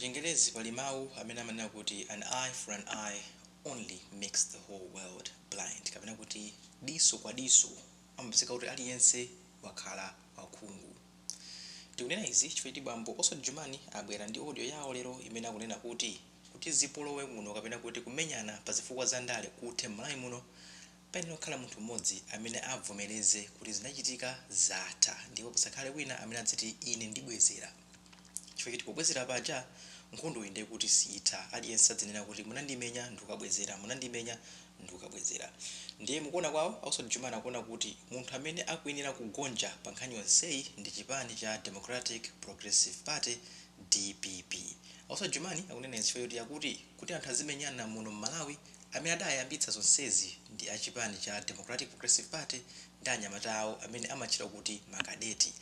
M'Chingerezi pali mawu amene amanena kuti an eye for an eye only makes the whole world blind, kapena kuti diso kwa diso, amapezeka kuti aliyense wakhala wakhungu. Tikunena izi chifukwa choti bambo Oswald Jumani abwera ndi audio yawo lero imene akunena kuti kuti zipolowe kuno kapena kuti kumenyana pa zifukwa za ndale kuthe m'Malawi muno, payenera kukhala munthu m'modzi amene abvomereze kuti zinachitika zatha ndipo pasakhale wina amene adziti ine ndibwezera. Chifukwa choti pobwezera paja nkhondoyi ndiye kuti siitha. Aliyense adzinena kuti, Munandimenya ndikukabwezera. Munandimenya ndikukabwezera. Ndiye mukuona kwawo, a Oswald Jumani akuona kuti munthu amene akuyenera kugonja pa nkhani yonseyi ndi chipani cha Democratic Progressive Party, dpp. A Oswald Jumani akunena izi chifukwa choti akuti, kuti anthu azimenyana muno m'Malawi, Amene adayambitsa zonsezi ndi a chipani cha Democratic Progressive Party ndi anyamata awo amene amatchedwa kuti ma Kadeti.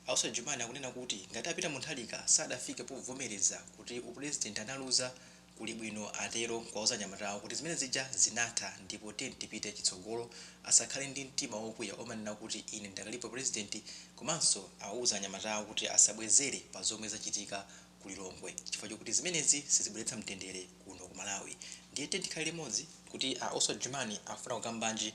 A Oswald Jumani akunena kuti ngati a Peter Muntharika sadafike povomereza kuti upulezidenti analuza, kuli bwino atero nkuwauza anyamatawo kuti zimene zija zinatha ndipo tiyeni tipite chitsogolo asakhale ndi mtima wokwiya omanena kuti ine ndidakalipo pulezidenti komanso awuza anyamatawo kuti asabwezere pa zomwe zachitika ku Lilongwe chifukwa chokuti zimenezi sizibweretsa mtendere kuno ku Malawi ndiye tiyeni tikhale limodzi kuti a Oswald Jumani akufuna kukambanji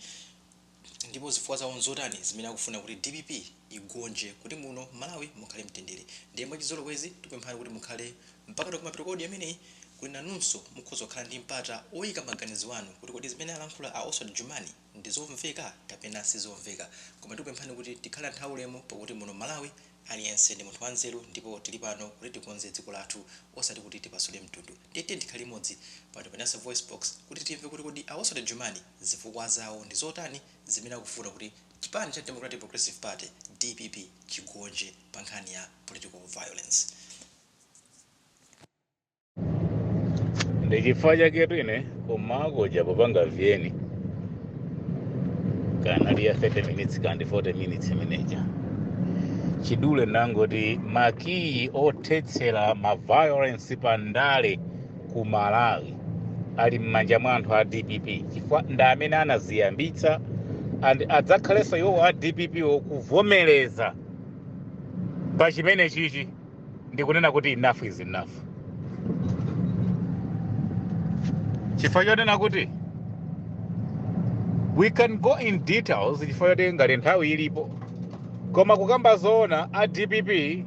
ndipo zifukwa zawo nzotani zimene akufuna kuti dpp igonje kuti muno m'Malawi mukhale mtendere ndiye mwachizolowezi tikupemphani kuti mukhale mpaka kumapeto kwa audio imeneyi kuti nanunso mukhoza kukhala ndi mpata oyika maganizo anu kuti kodi zimene alankhula a Oswald Jumani ndi zomveka kapena sizomveka koma tikupemphani kuti tikhale anthu aulemu pakuti muno mmalawi aliyense ndi munthu wanzeru ndipo tili pano kuti tikonze dziko lathu osati kuti tipasule mtundu ndiye tiyeni tikhale limodzi pano pa nyasa voicebox kuti timve kuti kodi a oswald jumani zifukwa zawo ndi zotani zimene akufuna kuti chipani cha democratic progressive party dpp chigonje pa nkhani ya political violence ndi chifukwa chaketu ine kumagonja popanga VN kanali ya 30 minutes kandi 40 minutes imene ija mwachidule ndangoti makiyi othetsera maviolence pa ndale ku malawi ali m'manja mwa anthu a dpp chifukwa ndi amene anaziyambitsa and adzakhalenso iwowo a dpp wo kuvomereza pa chimene chichi ndikunena kuti enough is enough chifukwa chonena kuti we can go in details chifukwa choti ngati nthawi ilipo koma kukamba zoona a dpp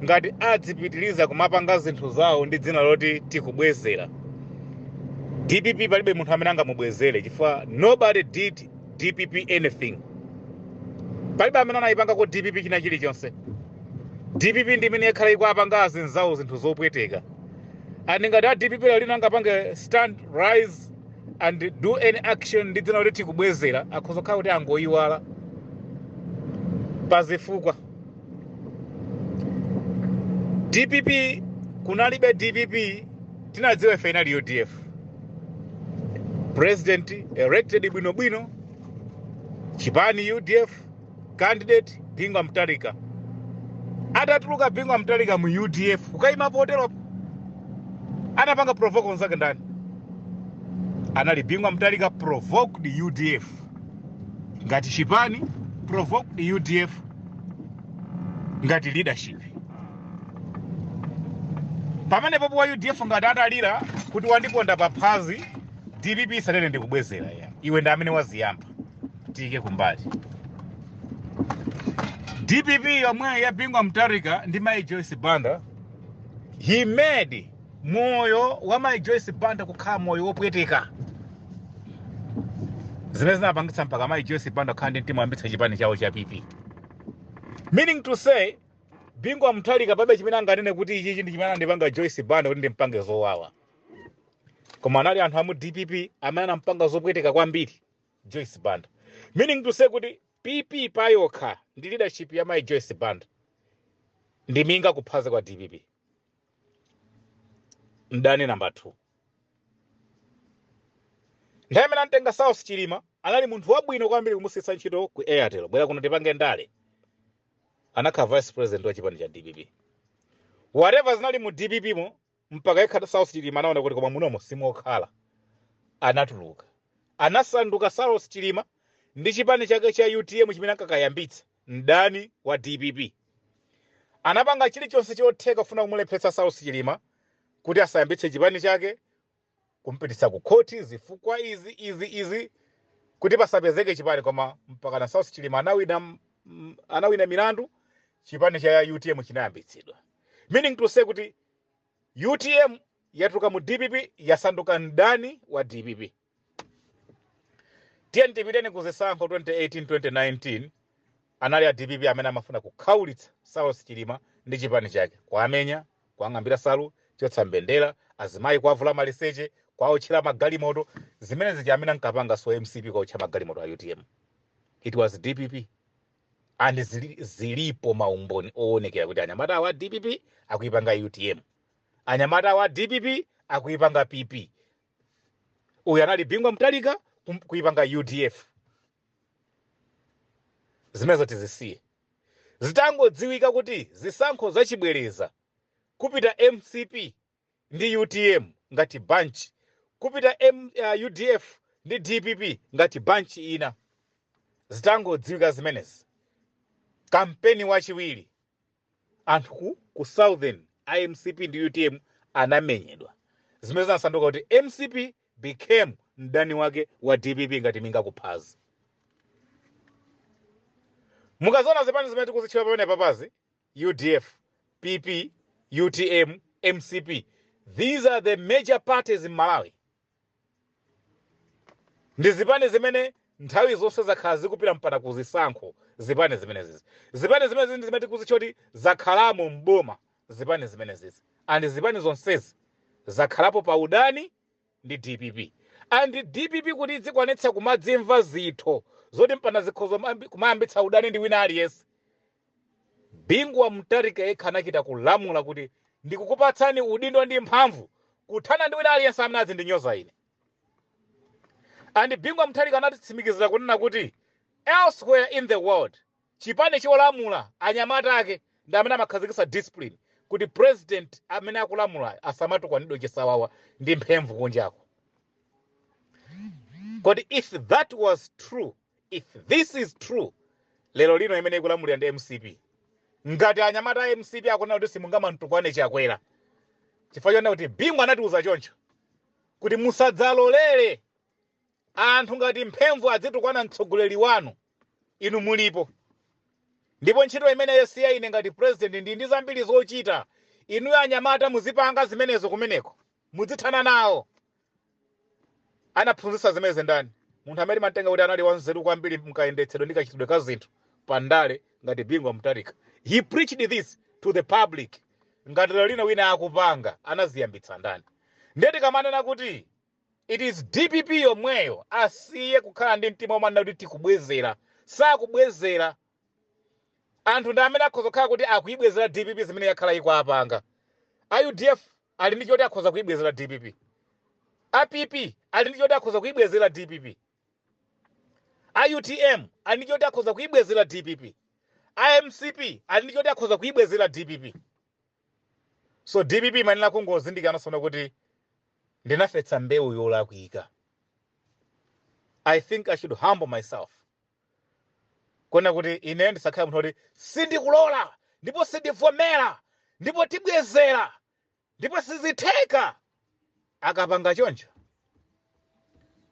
ngati adzipitiriza kumapanga zinthu zawo ndi dzina loti tikubwezera dpp palibe munthu amene angamubwezere chifukwa nobody did dpp anything palibe amene anayipangako dpp china chilichonse dpp ndi imene yakhala ikuwapanga azinzawo zinthu zopweteka and ngati a dpp lero lino angapange stand rise and do any action ndi dzina loti tikubwezera akhoza kukhala kuti angoyiwala pa zifukwa dpp kunalibe dpp tinadziwa ife inali udf president elected bwinobwino chipani udf candidate bingu wa mutharika atatuluka bingu wa mutharika mu udf kukayima poteropo anapanga provoke anzake ndani anali bingu wa mutharika provoked udf ngati chipani provoked udf ngati leadership pamene pompo a udf ngati atalira kuti wandiponda paphazi dpp isanene ndikubwezera ya iwe ndi amene waziyamba tiyike kumbali dpp yomweyo ya bingu wa mutharika ndi mayi joyce banda he made moyo wa mayi joyce banda kukhala moyo wopweteka zimene zinapangitsa mpaka mayi joyce banda kukhala ndi mtima woyambitsa chipani chawo cha pp meaning to say bingu wa mutharika palibe chimene anganene kuti ichichi ndi chimene anandipanga joyce banda kuti ndimpange zowawa koma anali anthu a mu dpp amene anampanga zopweteka kwambiri joyce banda meaning to say kuti pp payokha ndi leadership ya mayi joyce banda ndi minga kuphazi kwa dpp mdani namba 2 nthawi imene anamtenga saulos chilima anali munthu wabwino kwambiri kumusiyitsa ntchito ku airtel bwera kuno tipange ndale anakhala vice president wa chipani cha dpp whatever zinali mu dpp mo mpaka yekha saulos chilima anaona kuti koma munomo simokhala anatuluka anasanduka saulos chilima ndi chipani chake cha utm chimene ankakayambitsa mdani wa dpp anapanga chilichonse chotheka kufuna kumulepheretsa Saulos Chilima kuti asayambitse chipani chake, kumupititsa kukhoti, zifukwa izi, izi, izi kuti pasapezeke chipani. Koma mpakana Saulos Chilima anawina, anawina milandu, chipani cha utm chinayambitsidwa, meaning to say kuti utm yatuluka mu dpp yasanduka mdani wa dpp. tiyeni tipiteni ku zisankho 2018 2019 anali a dpp amene amafuna kukhaulitsa saulos chilima ndi chipani chake kuwamenya kuwang'ambira nsalu kuchotsa mbendera azimayi kuwavula maliseche kuwaotchera magalimoto zimene zija amene ankapanga si mcp kuwaotcha magalimoto a utm it was dpp and zili, zilipo maumboni owonekera kuti anyamata a dpp akuipanga utm anyamata a dpp akuipanga pp uyu anali bingu wa mutharika kum- kuipanga udf zimenezo tizisiye zitangodziwika kuti zisankho zachibwereza kupita mcp ndi utm ngati bunch kupita M, uh, udf ndi dpp ngati bunch ina zitangodziwika zimenezi kampeni wachiwiri anthu ku ku southern a mcp ndi utm anamenyedwa zimene zinasanduka kuti mcp became mdani wake wa dpp ngati minga kuphazi mukaziona zipani zimene tikuzitchula pamene papazi udf pp utm mcp these are the major parties in malawi ndi zipani zimene nthawi zonse zakhala zikupita mpaka ku zisankho zipani zimenezizi zipani zimenezi ndi zimene tikuzitcha kuti zakhalamo m'boma zipani zimenezizi and zipani zonsezi zakhalapo pa udani ndi dpp and dpp kuti idzikwanitsa kumadzimva zitho zoti mpana izikhoza kumayambitsa udani ndi wina aliyense Bingu wa Mutharika yekha anachita kulamula kuti ndikukupatsani udindo ndi mphamvu kuthana ndi wina aliyense amene adzindinyoza ine. And Bingu wa Mutharika anatitsimikizira kunena kuti elsewhere in the world chipani cholamula anyamata ake ndi amene amakhazikitsa discipline kuti president amene akulamulayo asamatukwanidwe chisawawa ndi mphemvu kunjako. Kodi if that was true, if this is true lero lino imene ikulamulira ndi mcp ngati anyamata a mcp akuona kuti simungamamutukwane chakwera chifukwa chonena kuti bingu anatiuza choncho kuti musadzalolere anthu ngati mphemvu adzitukwana mtsogoleri wanu inu mulipo ndipo ntchito imeneyo si ya ine ngati president ndi ndi zambiri zochita inuyo anyamata muzipanga zimenezo kumeneko mudzithana nawo Anaphunzitsa zimenezi ndani? Munthu amene timam'tenga kuti anali wanzeru kwambiri m'kayendetsedwe ndi kachitidwe ka zinthu pa ndale ngati Bingu wa Mutharika. He preached this to the public. Ngati lerolino wina akupanga, anaziyambitsa ndani? Ndiye tikamanena kuti it is dpp yomweyo, asiye kukhala ndi mtima womanena kuti tikubwezera. Sakubwezera. Anthu ndi amene akhoza kukhala kuti akuibwezera dpp zimene yakhala ikuwapanga. A udf ali ndi choti akhoza kuibwezera dpp a pp ali ndi choti akhoza kuibwezera dpp a utm ali ndi choti akhoza kuibwezera dpp a mcp ali ndi choti akhoza kuibwezera dpp so dpp imayenera kungozindikira nawonso kuti ndinafetsa mbewu yolakwika i think i should humble myself Kuona kuti ine ndisakhale munthu kuti sindikulola ndipo sindivomera ndipo tibwezera ndipo sizitheka. Akapanga choncho,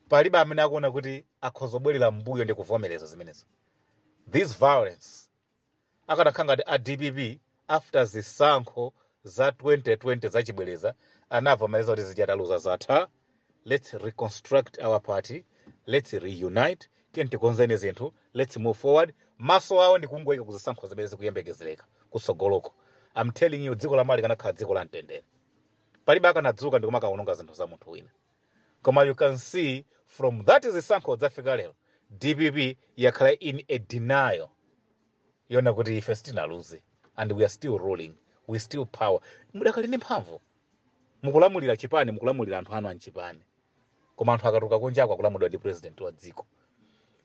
palibe amene akuona kuti akhozobwerera m'mbuyo ndi kuvomereza zimenezo. This violence akanakhala ngati a dpp after zisankho za 2020 zachibwereza anavomereza kuti zija taluza zatha let's reconstruct our party let's reunite tiyeni tikonzeni zinthu let's move forward maso awo ndi kungoyika kuzisankho zimene zikuyembekezereka kutsogoloko I'm telling you dziko la malawi likanakhala dziko la mtendere palibe akanadzuka ndi kumakawononga zinthu za munthu wina Koma you can see from that zisankho kudzafika lero dpp yakhala in a denial yona kuti ife sitinaluze and we are still ruling we still power mudakali ndi mphamvu mukulamulira chipani mukulamulira anthu anu anchipani koma anthu akatuluka kunjako akulamulidwa ndi president wa dziko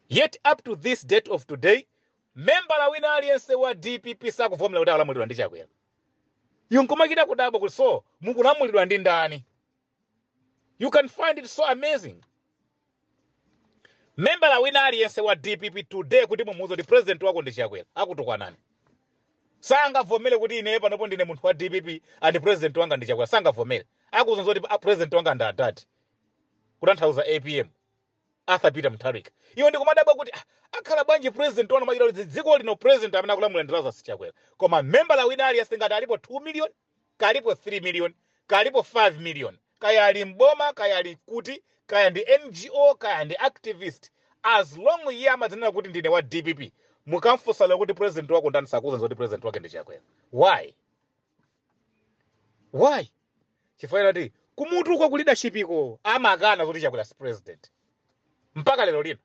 yet up to this date of today membala wina aliyense wa dpp sakuvomera kuti akulamulidwa ndi chakwera iwe nkumachita kudabwa kuti so mukulamulidwa ndi ndani you can find it so amazing membala wina aliyense wa dpp today kuti mumuuze kuti president wako ndi chakwera akutukwanani sangavomere kuti ineyo panopo ndine munthu wa dpp and president wanga ndi chakwera sangavomere akuuzani kuti "Ah, president wanga ndi atati kutanthauza apm arthur peter mutharika iwe ndikumadabwa kuti "Ah, akhala bwanji president wanu m'malo moti dziko lino president amene akulamula ndalama si chakwera koma membala wina aliyense ngati alipo 2 million kaya alipo 3 million, kaya alipo 5 million, kaya ali m'boma, kaya ali kuti, kaya ndi NGO, kaya ndi activist, as long iye amadzinena kuti ndine wa dpp, mukamfunsa lero kuti president wako ndani sakuuzani zoti president wake ndi Chakwera. Why? Why? Chifukwa choti kumutu uko ku leadership iko amakana zoti Chakwera si president mpaka lero lino.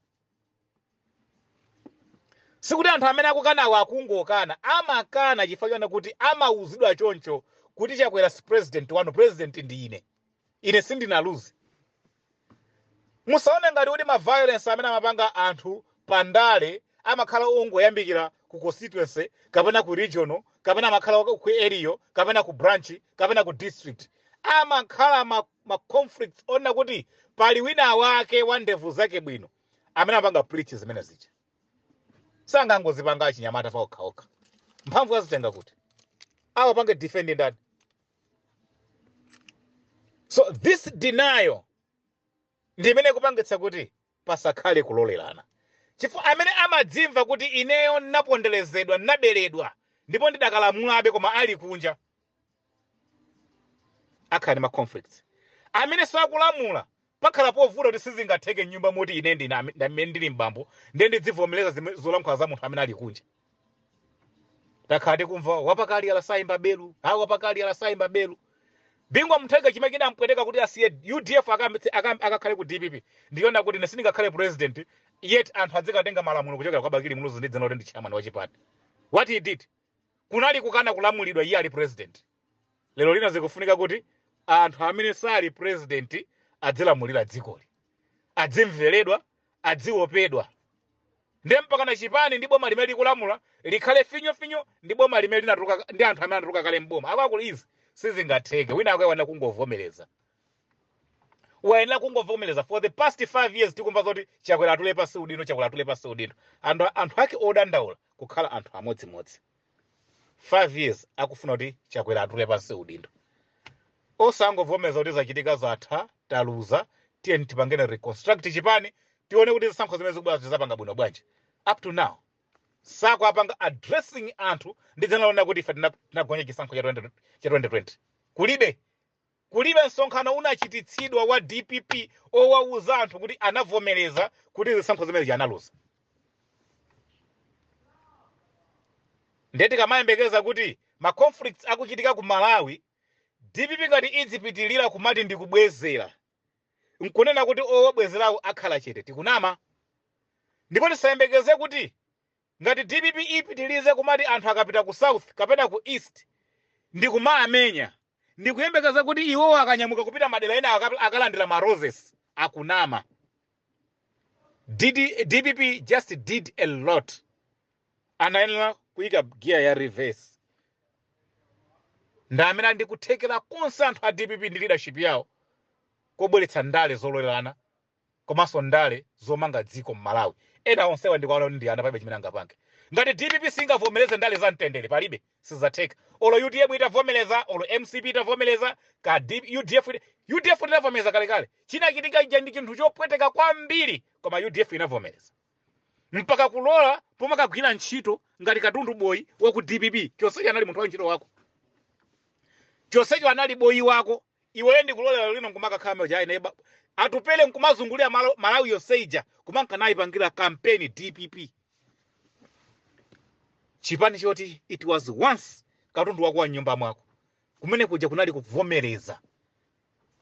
sikuti anthu amene akukanawo akungokana amakana chifukwa chona kuti amauzidwa choncho kuti chakwera si president wanu president ndi ine ine sindinaluze musaone ngati kuti ma violence amene amapanga anthu pa ndale amakhala ongoyambikira ku constituency kapena ku regional kapena amakhala ku area kapena ku branch kapena ku district amakhala ma ma conflicts ona kuti pali wina wake wa ndevu zake bwino amene amapanga preach zimene zija sangangozipanga achinyamata pa okha okha mphamvu azitenga kuti awapange defend ndani so this denial ndi imene ikupangitsa kuti pasakhale kulolerana. Chifukwa amene amadzimva kuti ineyo ndinaponderezedwa, ndinaberedwa, ndipo ndidakalamulabe koma ali kunja, akhala ndi ma conflicts. Amene sakulamula, pakhala povuta kuti sizingatheke m'nyumba moti ine ndi amene ndili m'bambo ndiye ndidzivomereza zimene zolankhula za munthu amene ali kunja. takhala tikumva wapakali alasayimba belu ha wapakali alasayimba belu bingu wa mutharika chimene chinampweteka kuti asiye udf akakhale ku dpp ndi choona kuti ine sindingakhale president yet anthu adzikatenga malamulo kuchokera kwa bakili muluzi ndi dzina loti ndi chairman wa chipani what he did kunali kukana kulamulidwa iye ali president lero lino zikufunika kuti anthu amene sali president adzilamulira dzikoli adzimveredwa adziwopedwa ndiye mpaka na chipani ndi boma limene likulamula likhale finyo finyo ndi boma limene linatuluka ndi anthu amene anatuluka kale mboma akakulu izi sizingatheke wina akuyenera kungovomereza wayenera kungovomereza for the past five years tikumva zoti chakwera atule pansi udindo chakwera atule pansi udindo anthu ake odandaula kukhala anthu amodzimodzi 5 years akufuna kuti chakwera atule pansi udindo osangovomereza kuti zachitika zatha taluza tiyeni tipange reconstruct chipani tione kuti zisankho zimene zikubwerazi tizapanga bwino bwanji up to now sakuwapanga addressing anthu ndi cholinga chonena kuti ife tina- tinagonja chisankho cha 20 cha 2020 kulibe Kulibe msonkhano unachititsidwa wa dpp owauza anthu kuti anavomereza kuti zisankho zimene zija analuza. Ndiye tikamayembekeza kuti ma conflicts akuchitika ku Malawi, dpp ngati idzipitirira kumati ndi kubwezera, nkunena kuti owabwezerawo akhala chete, tikunama. Ndipo tisayembekeze kuti Ngati dpp ipitilize kumati anthu akapita ku south kapena ku east ndikumaamenya ndikuyembekeza kuti iwowo akanyamuka kupita madera ena aka- akalandira ma roses akunama. dpp just did a lot anayenera kuyika gear ya reverse ndi amene ali ndi kuthekera konse anthu a dpp ndi leadership yawo kobweretsa ndale zololerana komanso ndale zomanga dziko mmalawi ena onsewa ndikuwaona kuti ndi ana palibe chimene angapange. Ngati dpp singavomeleze ndale za mtendere palibe sizatheka olo utm itavomeleza olo mcp itavomeleza ka udf udf tinavomeleza kalekale chinachitika ija ndi chinthu chopweteka kwambiri koma udf inavomeleza mpaka kulola kumakagwira ntchito ngati katundu boyi wa ku dpp chonsecho anali munthu wa ntchito wako chonsecho anali boyi wako iweyo ndikulola lero lino nkumakakhala mwa uja ayi neba atupele nkumazungulira malawi yonse ija kumanka nayipangira kampeni dpp chipani choti it was once katundu wako wa mnyumba mwako kumene kuja kunali kuvomereza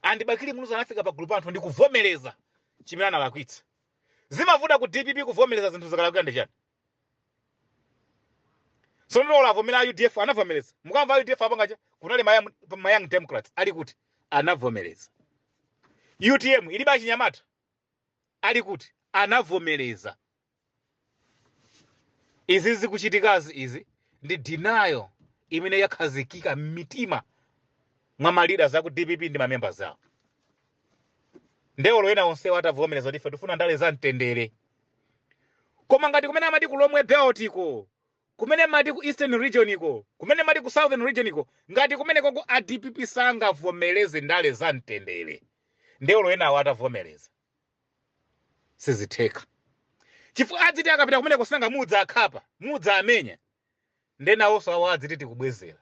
and bakili muluzi anafika pa gulu pa anthu ndi kuvomereza chimene analakwitsa zimavuta ku dpp kuvomereza zinthu zikalakwika ndi chani So nde olo avomere a UDF anavomereza. Mukamva a UDF apanga chani kunali ma young, ma young democrats ali kuti anavomereza. UTM ilibe achinyamata ali kuti anavomereza. Izi zikuchitikazi izi ndi denial imene yakhazikika m'mitima mwa ma leaders aku DPP ndi ma members awo. Nde olo ena onsewa atavomereza kuti ife tifuna ndale za mtendere. koma ngati kumene amati ku lomwe belt iko kumene amati ku eastern region iko kumene amati ku southern region iko ngati kumeneko ko a dpp sangavomereze ndale za mtendere nde olo enawo atavomereza sizitheka chifukwa adziti akapita kumeneku sinanga muzidzawakhapa muzidzawamenya nde nawonso awo adziti tikubwezera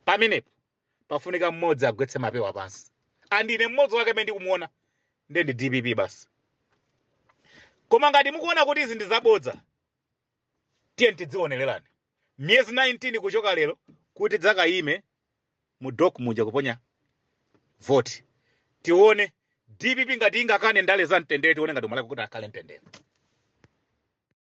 pamenepo pafunika mmodzi agwetse mapewa pansi and ine mmodzi wake amene ndikumuona nde ndi dpp basi koma ngati mukuona kuti izi ndi zabodza tiyeni tidzionererani miyezi 19 kuchoka lero kuti tidzakayime mu dok muja kuponya voti tione dpp ngati ingakane ndale za mtendere tione ngati umalakalaka kuti akhale mtendere